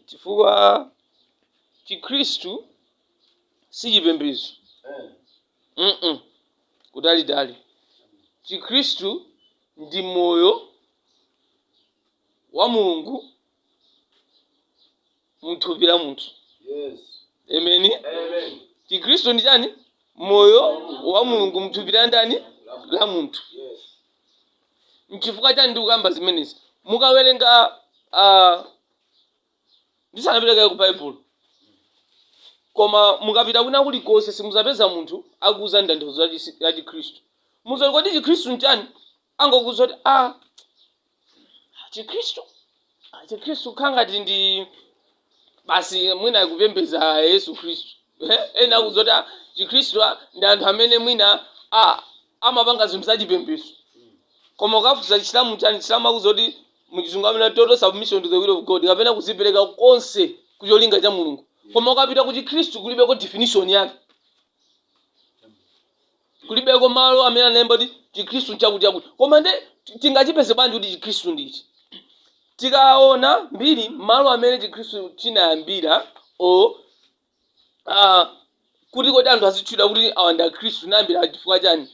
chifukwa chikhristu si chipembedzo mm kutalitali chikhristu ndi moyo wa mulungu mthupi la munthu amen chikhristu ndi chani moyo wa mulungu mthupi la ndani la munthu N'chifukwa chiyani ndikukamba zimenezi? Mukawerenga, ah, ndisanapite kaye ku Baibulo, koma mukapita kwina kulikonse simudzapeza munthu akukuuzani tanthauzo la chisi- la Chikhristu. Mudzati kodi Chikhristu n'chiyani? Angokuuza kuti, ah, Chikhristu Ah, chikhristu kukhala ngati ndi basi mwina kupembedza yesu khristu Eh, ena akuuza kuti ah, chikhristu ah, ndi anthu amene mwina ah, amapanga zinthu zachipembedzo koma ukafunsa chisilamu chani chisilamu akuuza kuti muchizungu amanena total submission to the will of god kapena kuzipereka konse kucholinga cha mulungu koma ukapita ku chikhristu kulibeko definition yake kulibeko malo amene analemba kuti chikhristu nchakuti chakuti koma nde ti- tingachipeze bwanji kuti chikhristu ndichi tikaona mbiri malo amene chikhristu chinayambira o ah, kuti kodi anthu azitchula kuti awa ndi akhristu anayambira chifukwa chani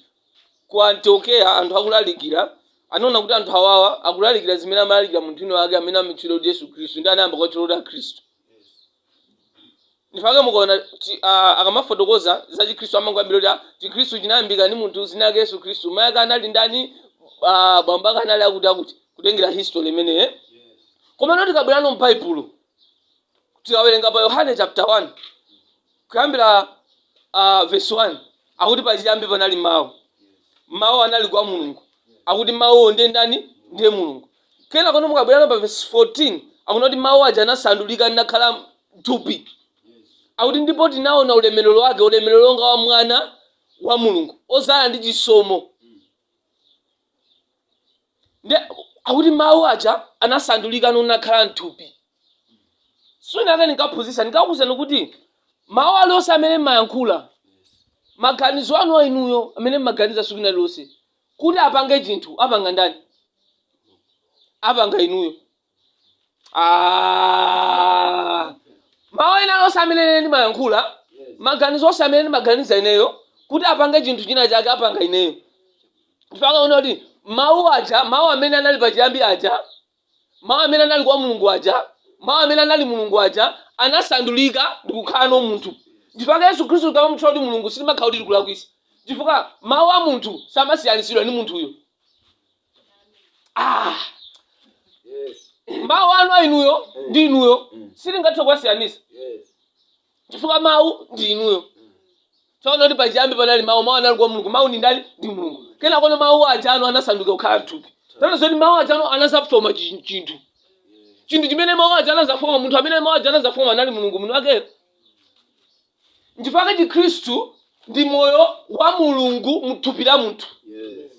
ku antiokeya anthu akulalikira anaona kuti anthu awawa akulalikira zimene amalalikira munthu wina wake amene amatchula kuti yesu khristu nde anayamba kuwatchula kuti akhristu ndipake mukaona kuti ah, akamafotokoza za chikhristu amangoyambira kuti ah, chikhristu chinayambika ndi munthu zina yake yesu khristu mayi ake anali ndani ah, bambo ake anali akuti akuti kutengera history imeneyi eh? komano tikabwerano m'baibulo tikawerenga pa yohane chapter 1 kuyambira uh, verse 1 akuti pachiyambi panali mawu mawu anali kwa mulungu akuti mawuwo ndiye ndani ndiye mulungu Kenakono mukabwerano pa vesi 14 akunena kuti mawu aja anasandulika nakhala thupi akuti ndipo tinaona ulemerero wake ulemerero wonga wa mwana wa mulungu ozala ndi chisomo nde akuti mawu aja anasandulikano nakhala mthupi tsiku lina lake ndinkaphunzisa ndinkakuuzani kuti mawu alionse amene mmayankhula maganizo anu a inuyo amene mmaganiza tsiku lina lililonse kuti apange chinthu apanga ndani apanga inuyo Ah. mawu ena onse amene ine ndimayankhula maganizo onse amene ndimaganiza ineyo kuti apange chinthu china chake apanga ineyo mpake akunena kuti mawu aja mawu amene anali pachiyambi aja Mawu amene anali kwa Mulungu aja, Mawu amene anali Mulungu aja, anasandulika ndi kukhalano munthu. Chifukwa Yesu Khristu tikamamutchula kuti Mulungu sitimakhala kuti tikulakwisa. Chifukwa mawu a munthu samasiyanitsidwa ndi munthuyo. Ah, Yes. mawu anu a inuyo ndi inuyo sitingathe kuwasiyanisa. Yes. chifukwa mawu ndi inuyo tsono akuti pachiyambi panali mawu mawu anali kwa mulungu mawu ndi ndani ndi mulungu kenakono mawu aja anu anasanduka kukhala thupi tsono zoti mawu aja anu anazafoma chi- chinthu chinthu chimene mawu aja anazafoma munthu amene mawu aja anazafoma anali mulungu mwini wakeyo nchifukwa chikhristu ndi moyo wa mulungu mthupi la munthu Yes.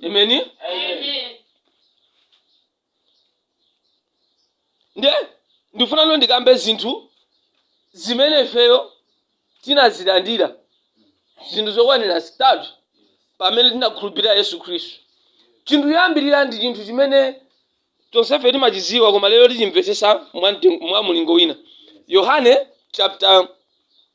Amen Amen. ndiye ndifunano ndikambe zinthu zimene ifeyo tinazilandira zinthu zokwanira zitatu pamene tinakhulupirira yesu khristu chinthu choyambirira ndi chinthu chimene tonsefe timachidziwa koma lero tichimvetsetsa mwa mten- mwa mulingo wina yohane chapter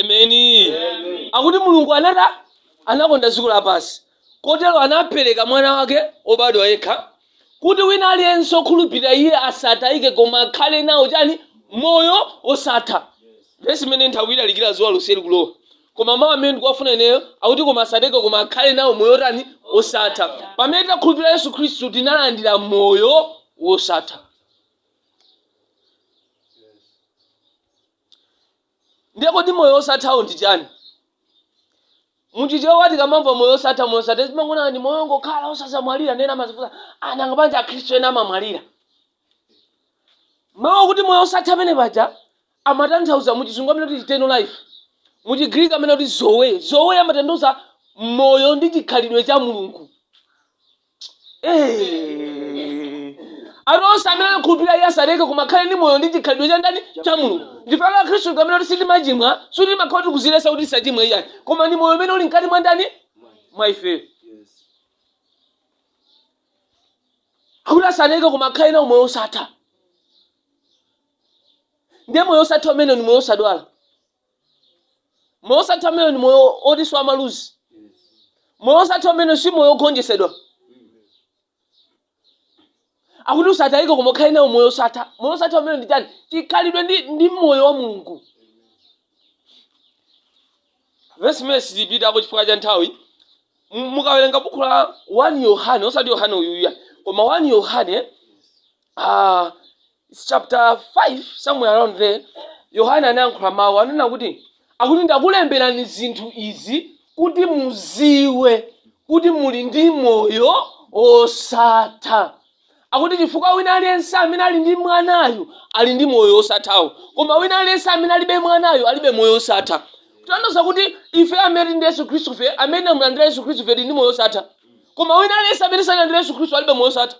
amen akuti mulungu anata anakonda dziko lapansi kotero anapereka mwana wake obadwa yekha kuti wina aliyense okhulupirira iye asatayike koma akhale nawo chani moyo osatha vesi imeneyi nditha kuilalikira zuwa lonseli kulowa koma mawu amene ndikuwafuna ineyo akuti koma asatayike koma akhale nawo moyo otani osatha pamene tinakhulupirira yesu khristu tinalandira moyo wosatha Ndiye kodi moyo wosathawo ndi chani? Mu Chichewa tikamamva moyo wosatha, moyo wosatha timangoona ngati moyo wongokhala osadzamwalira ndiye ena amazifunsa ah nanga bwanji Akhristu ena amamwalira? Mawu akuti moyo wosatha amene paja amatanthauza mu Chizungu amanena kuti eternal life. Mu Chigriki amanena kuti Zoe. Zoe amatanthauza moyo ndi chikhalidwe cha Mulungu. Eh. anthu onse amene akukhulupirira iye asatayike koma akhale ndi moyo ndi chikhalidwe cha ndani cha mulungu nchifukwa chake akhristu tikamanena kuti sitimachimwa sikuti timakhala kuti tikuzilesa kuti tisachimwe iyayi koma ndi moyo umene uli mkati mwa ndani mwa ifeyo akuti asatayike koma akhale nawo moyo osatha ndiye moyo osatha umene ni moyo osadwala moyo osatha umenewo ndi moyo oti sumaluza moyo osatha umene si moyo ogonjesedwa akuti usatayike koma ukhale nawo moyo osatha moyo osatha umene ndi chani chikhalidwe ndi, ndi moyo wa mulungu vesi imeneyi sitipitako chifukwa cha nthawi mu- mukawerenga buku la 1 yohane osati yohane uyuya koma 1 yohane uh, chapter 5 somewhere around there yohane anayankhula mawu anena kuti akuti ndakulemberani zinthu izi kuti muziwe kuti muli ndi moyo osatha akuti chifukwa wina aliyense amene ali ndi mwanayu ali ndi moyo osathawo koma wina aliyense amene alibe mwanayu alibe moyo osatha kutanthauza kuti ife amene tili ndi yesu khristu fe amene tamulandira yesu khristu fe tili ndi moyo osatha koma wina aliyense amene sanalandire yesu khristu alibe moyo osatha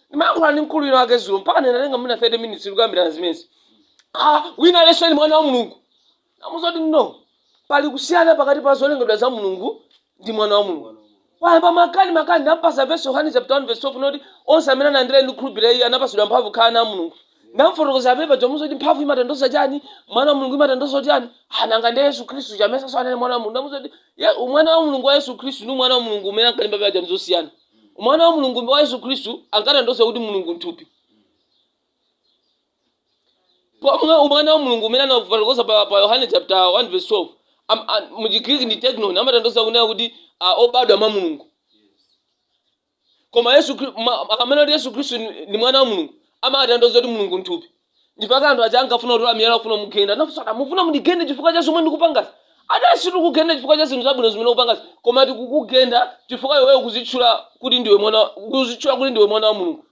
ndimayankhula ndi mkulu wina wake zulo mpaka ndinatenga mwina 30 minutes tikukambirana zimenezi ah wina aliyense ni mwana wa mulungu namuza kuti no pali kusiyana pakati pa zolengedwa za mulungu ndi mwana wa mulungu wayamba makani makani ndampasa vesi yohane chapter 1 verse 12 noti onse amene analandira ndi kukhulupirira iye anapasidwa mphamvu kukhala ana a mulungu ndamfotokoza apepa ndamuza kuti mphamvu imatanthauza chani mwana wa mulungu imatanthauza chani ah nanga ndi yesu khristu chamesa sanali mwana wa mulungu ndamuza kuti ye- mwana wa mulungu wa yesu khristu ndi mwana wa mulungu umene ankalimba paja ndi zosiyana Mwana wa Mulungu wa Yesu Khristu ankatanthauza kuti Mulungu m'thupi. Pomwe umwana wa Mulungu umene anafotokoza pa, pa Yohane chapter 1 verse 12 am, a, mu Chigriki ndi teknon imatanthauza kunena kuti a, obadwa mwa Mulungu. Koma Yesu Khri- ma- akamena kuti Yesu Khristu ni ni mwana wa Mulungu amatanthauza kuti Mulungu m'thupi. mpaka anthu aja ankafuna kutola miyala akufuna kumugenda anafunsa kuti mufuna mundigende chifukwa cha zomwe ndikupangazi adati sitikugenda chifukwa cha zinthu zabwino zimene ukupangazi koma tikukugenda chifukwa iweyo kuzitchula kuti ndiwe mwana kuzitchula kuti ndiwe mwana wa mulungu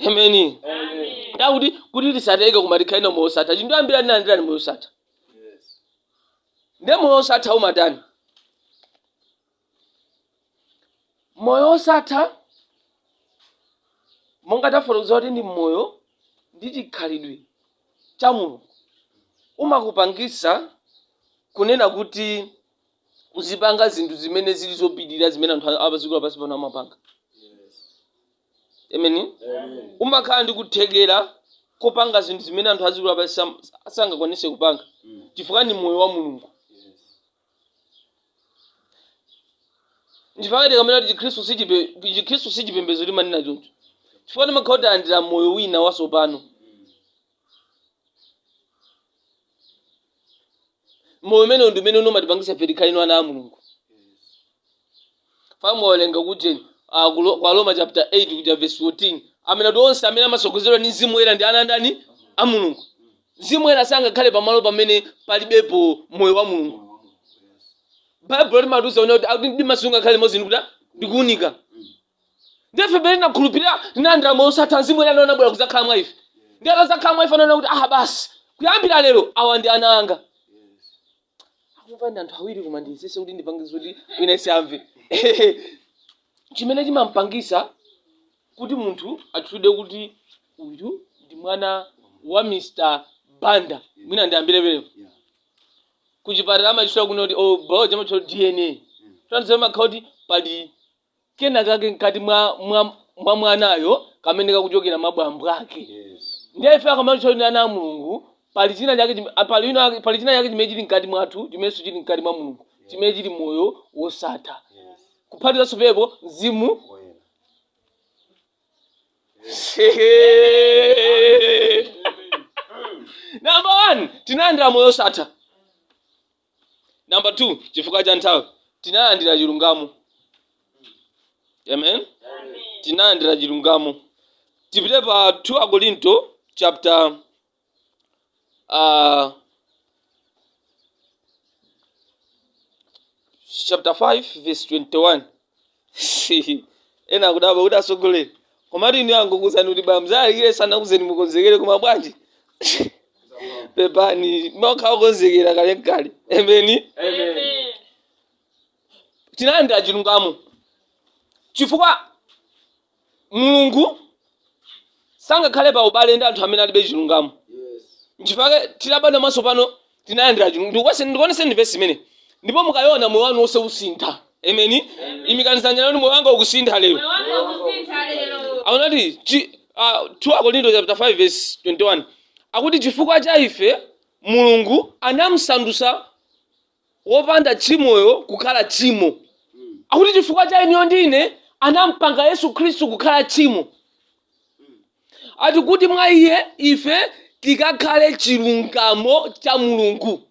ameni Amen. ndakuti kuti tisatayike koma tikhale nawo moyo osatha chinthu ambira ndinalandira ndi moyo osatha Yes. nde moyo osatha umatani moyo wosatha monga tafotokoza kuti ndi moyo ndi chikhalidwe cha mulungu umakupangisa kunena kuti uzipanga zinthu zimene zili zopitirira zimene anthu apaziko lapansi pano amapanga ameni umakhala ndi kuthekera kopanga zinthu zimene anthu aziko lapansi sam- sangakwanise kupanga chifukwa ndi moyo wa mulungu chifukwa tikamena kuti chikhristu si chipe- chikhristu si chipembedzo timanena choncho chifukwa timakhala talandira moyo wina wasopano moyo umenewo ndi umene umatipangisa ife tikhale ino ana a mulungu Tinawerenga kuja kwa Aroma chapter 8 kuja verse 14 amanena kuti onse amene amasogozedwa ndi mzimu woyera ndi ana ndani a mulungu mzimu woyera sangakhale pamalo pamene palibepo moyo wa mulungu baibulo limatiuza kunena kuti akuti mdima sungakhale limodzi ndi kuta ndi kuunika nde ife pamene tinakhulupirira tinalandira moyo osatha mzimu woyera ndiye anabwera kudzakhala mwa ife ndiye atadzakhala mwa ife anaona kuti aha basi kuyambira lero awa ndi ana anga akumva ndi anthu awiri koma ndiyesese kuti ndipangitse kuti wina aliyense amve chimene chimampangisa kuti munthu atchulidwe kuti uyu ndi mwana wa mr banda mwina ndiyambire penepo Yeah. kuchipatala amatchula kuna kuti ku biology amatchula kuti dna tanthauzo mumakhala kuti pali kenakake mkati mwa, mwa, mwa mwanayo kamene kakuchokera mwa bambo ake Yes. ndiye ife akamatitchula ndi ana a mulungu pali china chake chim- ah, pali ino ake- pali china chake chimene chili mkati mwathu chimenenso chili mkati mwa mulungu chimene chili moyo wosatha Yes. kuphatikizanso apo mzimu Woyera. namba one tinalandira moyo wosatha number two chifukwa cha nthawi tinalandira chilungamo amen tinalandira chilungamo tipite pa 2 akorinto chapter uh, chapter 5 verse 21 ena akudabwa kuti atsogoleri komatu ine angondiuza kuti mudzalalikire sanakuuzeni mukonzekere koma bwanji pepani umakhala wokonzekera kale nkale ameni Amen. tinalandira chilungamo chifukwa mulungu sangakhale pa ubale ndi anthu amene alibe chilungamo nchifukwa chake titabadwa mwatsopano tinalandira chilungamo ndikuonetseni vesi imeneyi ndipo mukayiona moyo wanu wonse usintha ameni imikani dzanja lanu moyo wanga ukusintha lero akunati chi- ah, 2 akorinto chapter 5 verse 21 akuti chifukwa cha ife mulungu anamsandutsa wopanda tchimoyo kukhala tchimo. Akuti chifukwa cha inuyo ndi ine anampanga Yesu Khristu kukhala tchimo. Ati kuti mwa iye ife tikakhale chilungamo cha Mulungu.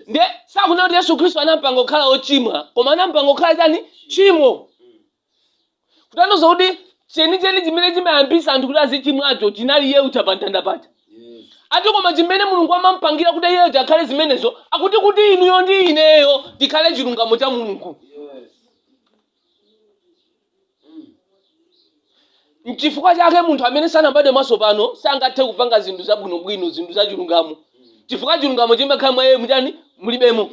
Nde sakunena kuti Yesu Khristu anampanga kukhala wochimwa, koma anampanga kukhala chani? Tchimo. kutanthauza kuti chenicheni chimene chimayambisa anthu kuti azichimwacho chinali iye uja pa mtanda paja Yes. ati koma chimene mulungu anampangira kuti iye uja akhale zimenezo akuti kuti inuyo ndi ineyo tikhale chilungamo cha mulungu Yes. mchifukwa chake munthu amene sanabadwe mwatsopano sangathe kupanga zinthu zabwinobwino zinthu za chilungamo chifukwa chilungamo chimenecho mwa iye mutani mulibemo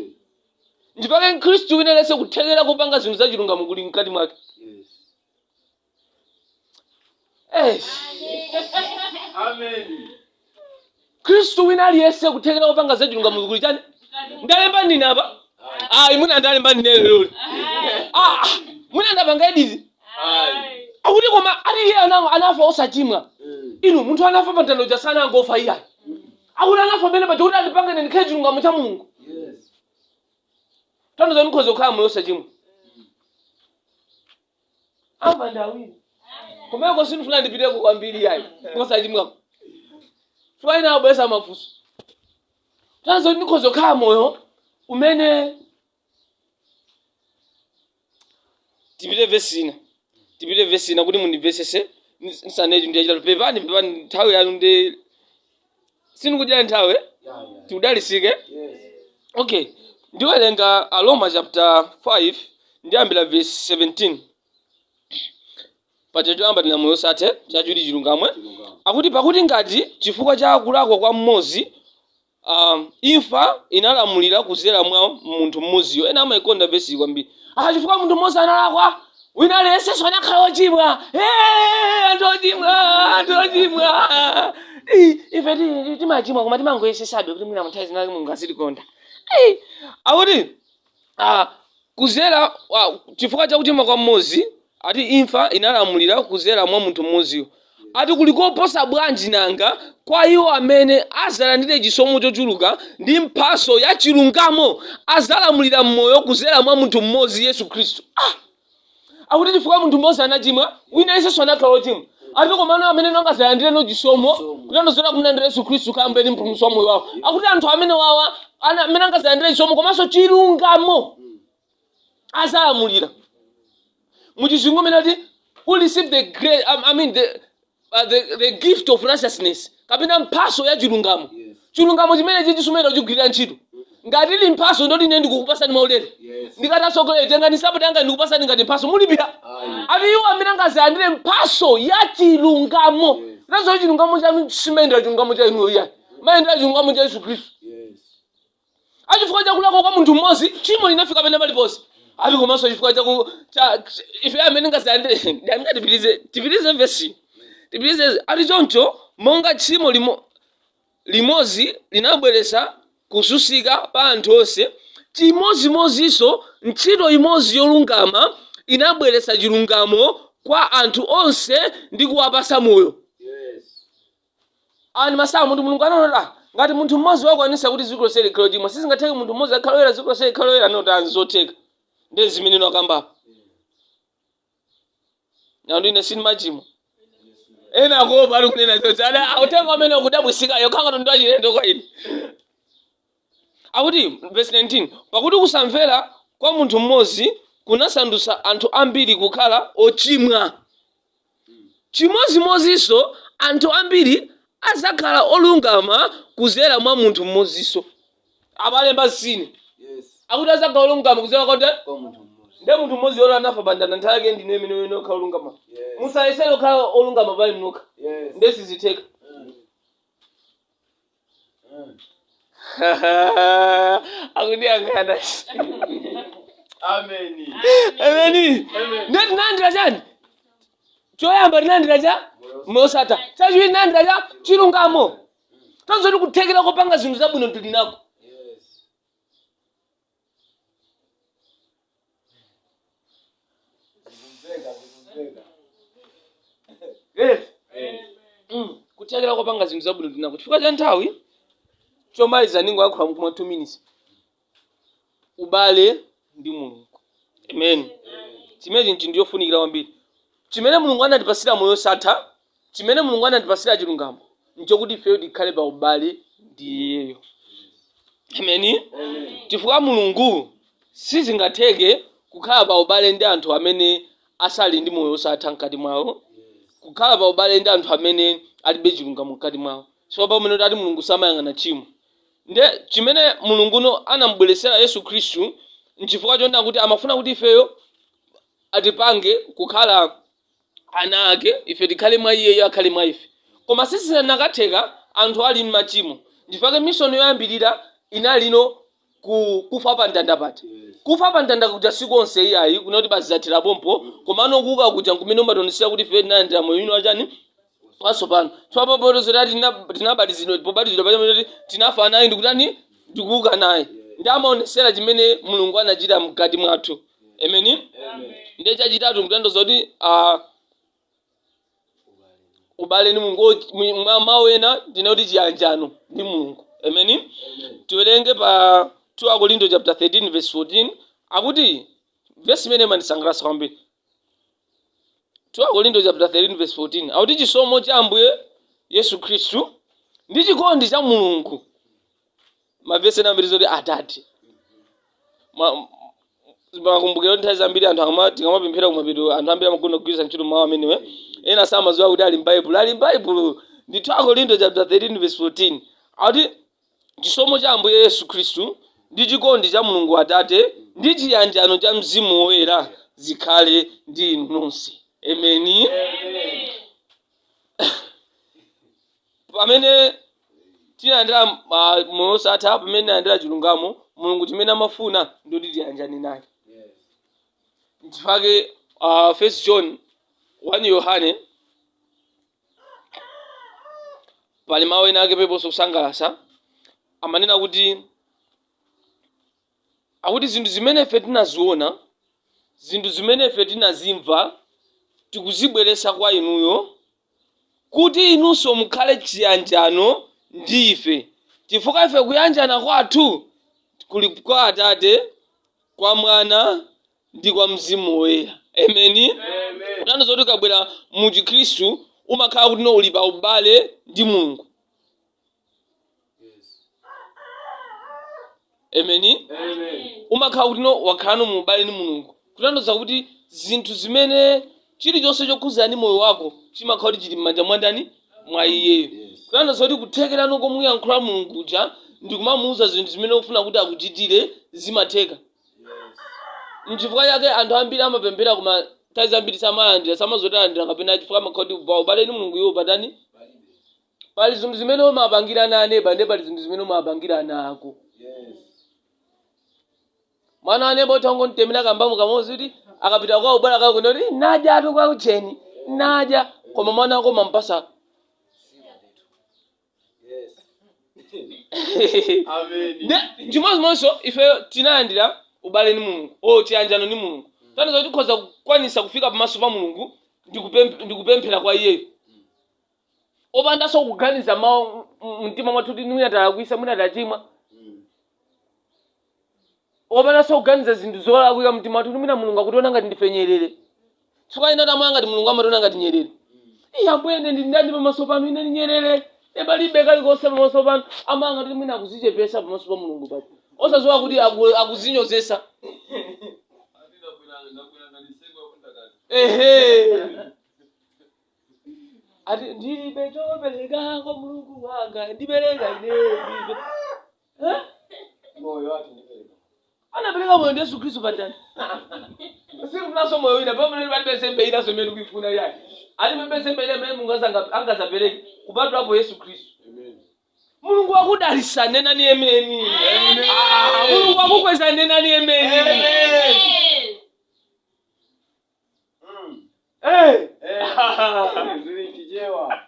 nchifukwa chake mkhristu wina aliyense kuthekera kupanga zinthu za chilungamo kuli mkati mwake Eish. mkhristu wina aliyense kuthekera kupanga za chilungamo kuli chani ndalemba ndine apa ayi mwina ndalemba ndine leroli Ah, mwina ndapanga editi akuti koma ati iye ana- anafa osachimwa inu munthu anafa pamtanda paja sanangofa iyayi akuti anafa pamene paja kuti andipange ine ndikhale chilungamo cha mulungu Yes. tanthauza ndikhoza kukhala moyo osachimwa amba ndi awiri kumeneko sindifuna ndipiteko kwambiri yayi kosachimwako chifukwa ena abwesa mafunso tanthauza kuti ndikhoza kukhala moyo umene tipite vesi ina tipite vesi ina kuti mundimvetsese nis- nisanetu ndi yachitatu pepani pepani nthawi yanu ndi sindikudyera nthawi eh? tikudalisike okay ndiwerenga aroma chapter 5 ndiyambira vesi 17 paja choyamba tina moyo osatha chachiwiri chilungamo akuti pakuti ngati chifukwa cha kulakwa kwa mmodzi a. Imfa inalamulira kuzera mwa munthu mmodziyo. Ena amaikonda vesiyi kwambiri. Aha, chifukwa munthu mmodzi analakwa, wina aliyensenso anakhala wochimwa. Eee, anthu ochimwa, anthu ochimwa. Ii, Ife ti- ti- timachimwa koma timangoyesesabe kuti mwina munthawi zinazake Mulungu azitikonda. Ii, Akuti a kuzera a, chifukwa cha kuchimwa kwa mmodzi ati imfa inalamulira kuzera mwa munthu mmodziyo ati kuli koposa bwanji nanga kwa iwo amene azalandire chisomo chochuluka ndi mphaso ya chilungamo azalamulira mmoyo kuzera mwa munthu mmodzi yesu khristu ah! akuti chifukwa munthu mmodzi anachimwa wina aliyensenso anakhala ochimwa ati komano amene angazalandireno chisomo kutanthauza kumlandira yesu khristu kukhala mbuye ndi mpulumutsi wa moyo wawo akuti anthu amenewawa ana- amene angazalandire chisomo komanso chilungamo azalamulira muchizungu mmene ati who receive the grace, I, I mean the, uh, the, the gift of righteousness kapena mphaso ya chilungamo Yes. chilungamo chimenechichi sumachigwirira ntchito ngati ili mphaso ndoti ine ndikukupasani maulere Yes. ndikati atsogoleri tengani nsapato zanga ndikupasani ngati mphaso mulipira Ayi. ati iwo amene angazalandire mphaso ya chilungamo Yes. ndiye chilungamo chanu simayendera chilungamo cha inuyo yayi mumayendera chilungamo cha yesu khristu a chifukwa cha kulakwa kwa munthu mmodzi tchimo linafika pena paliponse ati komanso chifukwa cha ku- cha- ch- ife amene angazalandire tipitirize tipitirize vesi tipitirize ati choncho monga tchimo limo limodzi linabweretsa kususika pa anthu onse chimodzimodzinso ntchito imodzi yolungama inabweretsa chilungamo kwa anthu onse ndi kuwapasa moyo Awa ndi masamu ndithu Mulungu anaona kuti ah ngati munthu mmodzi wakwanisa kuti dziko lonse likhale ochimwa sizingatheke munthu mmodzi akhale oyera dziko lonse likhale oyera anaona kuti ah nzotheka ndi zimene ine ndikukamba pano ndine sinimachimwa ena akuopa ali kunena zoti ada autenga amene ukudabwisika ukhala ngati ndi wachilendo kwa ine Akuti, vesi 19, Pakuti kusamvera kwa munthu mmodzi kunasandutsa anthu ambiri kukhala ochimwa, chimodzimodzinso anthu ambiri adzakhala olungama kudzera mwa munthu mmodzinso. Abale mwa ine. Akuti adzakhala olungama kudzera kwa ndani? Kwa munthu mmodzi. Ndiye munthu mmodzi uyo anafa pa mtanda nthawi yake ndi ino imene muyenera kukhala olungama. Musayesere kukhala olungama pa inu nokha. Ndiye sizitheka. akundiyang'ana Ameni. ameni nde tinalandira chani choyamba tinalandira cha moyo osatha chachiwiri tinalandira cha chilungamo tanthauzo loti kuthekera kopanga zinthu zabwino tili nako Zikumveka, zikumveka. Yes. Eh. Mm. kuthekera kopanga zinthu zabwino tili nako chifukwa cha nthawi chomaliza ndingoyankhula mkuma 2 minutes ubale ndi mulungu amen chimene chinthu ndichofunikira kwambiri chimene mulungu anatipasira moyo osatha Chimene Mulungu anatipatsira chilungamo nchokuti ifeyo tikhale pa ubale ndi Iyeyo. Ameni. Chifukwa Mulungu sizingatheke kukhala pa ubale ndi anthu amene asali ndi moyo osatha mkati mwawo, kukhala pa ubale ndi anthu amene alibe chilungamo mkati mwawo. Chifukwa pamene kuti ati Mulungu samayang'ana tchimo. Nde chimene Mulunguyo anamubweretsera Yesu Khristu nchifukwa chonena kuti amafuna kuti ifeyo atipange kukhala ana ake ife tikhale mwa iyeyo akhale mwa ife koma sizikanatheka anthu ali mmachimo nchifukwa chake mishoni yoyambirira inalino kufa pa mtanda pati kufa pa mtanda kuja sikunali iyayi kunena kuti basi zathera pompo komano kuuka kuja nkumene umationesera kuti ife tinalandira moyo wina wachani watsopano tsopano popeza kuti tina- tinabatizidwa pobatizidwa pamene kuti tinafa naye ndikutani ndikuuka naye nde amaonesera chimene mulungu anachita mkati mwathu ameni ndiye chachitatu ndikutanthauza kuti ah, ubale ndi mulungu wo- mwi- mwa mawu ena ndinena kuti chiyanjano ndi mulungu ameni tiwerenge pa 2 akorinto chapter 13 verse 14 akuti vesi imene imandisangalatsa kwambiri 2 Akorinto chapter 13 verse 14 akuti chisomo cha Ambuye Yesu Khristu ndi chikondi cha Mulungu mavesi ena ambiri zoti atate Ma- makumbukiro nthawi zambiri anthu akama- tikamapemphera kumapeto anthu ambiri amakonda kugwiritsa ntchito mawu amenewa ena samadziwa kuti ali m'baibulo ali m'baibulo ndi 2 Akorinto chapter 13 verse 14 akuti Chisomo cha Ambuye Yesu Khristu, ndi chikondi cha Mulungu Atate, ndi chiyanjano cha Mzimu Woyera zikhale ndi inu nonse. Ameni. Pamene tinalandira ah, moyo osatha, pamene tinalandira chilungamo, Mulungu chimene amafuna ndi kuti tiyanjane naye. Nchifukwa chake uh, First John 1 Yohane pali mawu ena ake penapake kusangalasa amanena kuti akuti zinthu zimene ife tinaziona zinthu zimene ife tinazimva tikuzibweresa kwa inuyo kuti inunso mukhale chiyanjano ndi ife chifukwa ife kuyanjana kwathu kuli kwa atate kwa mwana ndi kwa Mzimu Woyera. Ameni. Kutanthauza kuti ukabwera mu Chikhristu umakhala kuti no uli pa ubale ndi Mulungu. Ameni. Umakhala kuti no wakhalano mu ubale ndi Mulungu. Kutanthauza kuti zinthu zimene chilichonse chokhuzana ndi moyo wako chimakhala kuti chili m'manja mwa ndani? Mwa iyeyo. Kutanthauza kuti kuthekerano komuyankhula Mulungu uja ndi kumamuuza zinthu zimene ufuna kuti akuchitire zimatheka. nchifukwa chake anthu ambiri amapemphera koma nthawi zambiri samalandira samazotalandira kapena chifukwa amakhala kuti kubawa ubale ndi mulungu iwo patani pali zinthu zimene umapangira ana a neba ndi pali zinthu zimene umapangira ana ako mwana wa neba utha kungomutemera kambamu kamodzi kuti akapita kwa ubala kako kunena kuti naja atu kwa ucheni naja koma mwana wako umampasa chimodzimodzinso ife tinalandira ubale ndi mulungu o chiyanjano ndi mulungu tanthauza kuti tikhoza kukwanisa kufika pamaso pa mulungu ndi kupem- ndi kupemphera kwa iyeyo opandanso kuganiza mawu mu mtima mwathu kuti mwina talakwisa mwina tachimwa opandanso kuganiza zinthu zolakwika mumtima mwathu kuti mwina mulungu akutiona ngati ndife nyerere chifukwa ena amaona ngati mulungu amationa ngati nyerere iye ambuye ine ndi ndani pamaso panu ine ndi nyerere ine palibe kalikonse pamaso panu amaganiza kuti mwina akuzichepesa pamaso pa mulungu papo osaziwa kuti aku- akuzinyozesa ehe ati ndilibe chopereka kwa mulungu wanga ndipereka ine ndilibe Eh? moyo wake ndipereka anapereka moyo ndi yesu khristu pamtanda sikufunanso moyo wina pamene palibe nsembe inanso imene kuifuna yake alibe nsembe ina imene mulungu azanga- angazapereke kupatulapo yesu khristu amen mulungu wakudalisa nenani ameni Amen. Ah, mulungu wakukweza nenani ameni Amen. Mm. Eh, Eh, zili chichewa.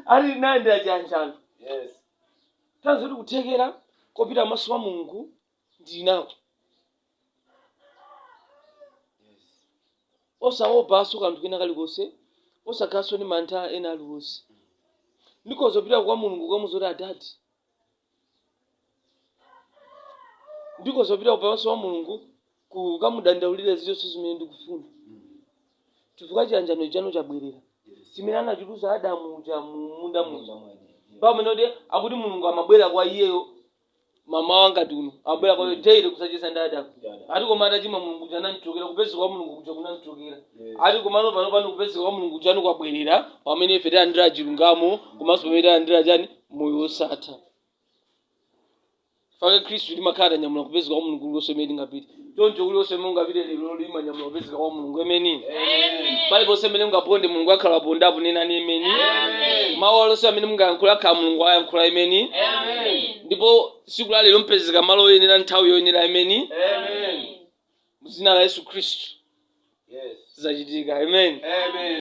alinayenda chiyanjano Yes. tanthauzo lake kuthekera kopita pamaso pa mulungu ndili nako osaopanso kanthu kena kalikonse osakhalanso ndi mantha ena aliwonse ndikhoza kupita kwa mulungu kukamuuza zoti adati ndikhoza kupita pamaso pa mulungu kukamudandaulira zilizonse zimene ndikufuna chifukwa chiyanjano chija chabwerera chimene anachiluza adamu uja mumunda muja pamene kuti akuti mulungu amabwera kwa iyeyo mamawa ngati uno amabwera kwa iye daily kudzacheza ndi adamu ati koma atachimwa mulungu uja anamchokera kupezeka kwa mulungu kuja kunamchokera ati komano pano pano kupezeka kwa mulungu kuja kwabwerera pamene ife talandira chilungamo komanso pamene talandira chani moyo wosatha mwa khristu timakhala tanyamula kupezeka kwa mulungu kulikonse kumene tingapite choncho kulikonse kumene mungapite lero lino mwanyamula kupezeka kwa mulungu emeni paliponse amene mungaponde mulungu akhala apondapo nenani emeni mawu aliwonse amene mungayankhula akhala mulungu ayankhula emeni ndipo siku la lero mupezeka malo oyenera nthawi yoyenera emeni mu dzina la yesu khristu Yes. zachitika amen Amen.